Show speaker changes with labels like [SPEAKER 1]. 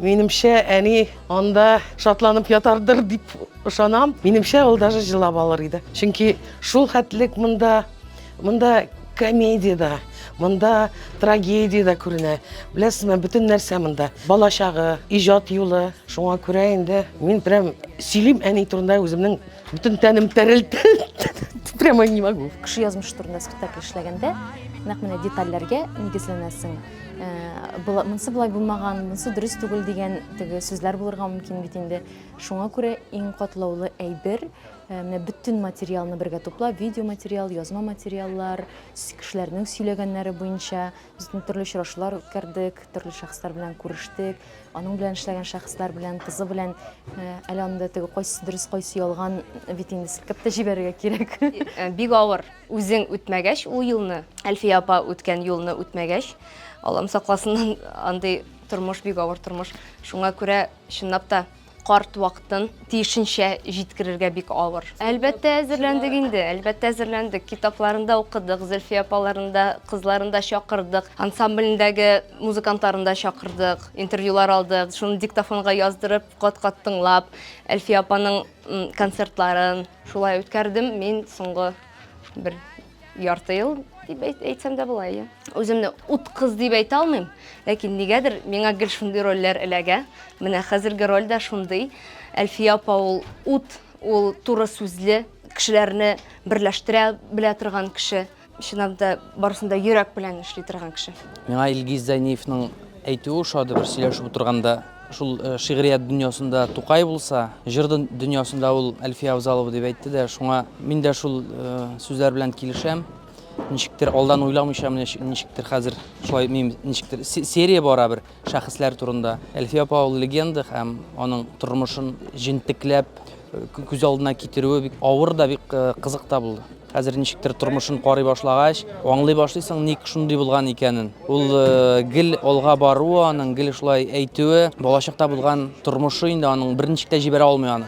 [SPEAKER 1] Минемчә, әни анда шатланып ятардыр дип ышанам. Минемчә, ул даже җылап алыр иде. Чөнки шул хәтлек монда, монда комедия да, монда трагедия да күренә. Беләсезме, бөтен нәрсә монда. Бала чагы, иҗат юлы. Шуңа күрә инде мин прям сөйлим әни турында үземнең бөтен тәнем тәрелте. Прямо не могу. Кеше язмыш турында
[SPEAKER 2] спектакль эшләгәндә, нәкъ менә детальләргә нигезләнәсең. Э, монсы былай булмаган, монсы дөрес түгел дигән теге сүзләр булырга мөмкин бит инде. Шуңа күрә иң катлаулы әйбер, э, менә бөтен материалны бергә туплап, видео материал, язма материаллар, кешеләрнең сөйләгәннәре буенча без төрле очрашулар үткәрдек, төрле шәхесләр белән күрештек, аның белән эшләгән шәхесләр белән, кызы белән э, әле анда теге кайсы дөрес, кайсы ялган бит инде селкеп тә җибәрергә кирәк. Бик авыр.
[SPEAKER 3] Үзең үтмәгәч ул юлны, Әлфия апа үткән юлны үтмәгәч, Аллам сакласыннан андый тормыш, бик авыр тормыш. Шуңа күрә чынлап та карт вакытын тиешенчә җиткерергә бик авыр. Әлбәттә әзерләндек инде, әлбәттә әзерләндек. Китапларында укыдык, Зөлфия апаларында, кызларында чакырдык, ансамблендәге музыкантларында чакырдык, интервьюлар алдык. Шуны диктофонга яздырып, кат-кат тыңлап, Әлфия апаның концертларын шулай үткәрдем мин соңгы бер ярты ел дип әйтсәм дә була иә үземне ут кыз дип әйтә алмыйм ләкин нигәдер миңа гел шундый рольләр эләгә менә хәзерге роль дә шундый әлфия апа ул ут ул туры сүзле кешеләрне берләштерә белә торган кеше Чынлап да барысын да йөрәк белән эшли торган кеше. Миңа Илгиз
[SPEAKER 4] Зәйниевның әйтүе ошады бер сөйләшеп утырганда. Шул э, шигърият дөньясында Тукай булса, җыр дөньясында ул Әлфия Авзалова дип әйтте дә, шуңа мин дә шул э, сүзләр белән килешәм. Ничектер алдан уйламыйча менә ничектер хәзер шулай ничектер серия бара бер. Шәхесләр турында. Әлфия апа ул легенда һәм аның тормышын җентекләп күз алдына китерүе бик авыр да, бик кызык та булды. Хәзер ничектер тормышын карый башлагач, аңлый башлыйсың, ник шундый булган икәнен. Ул гел алга баруы аның, гел шулай әйтүе, балачакта булган тормышы инде аның берничек тә җибәрә алмый аны.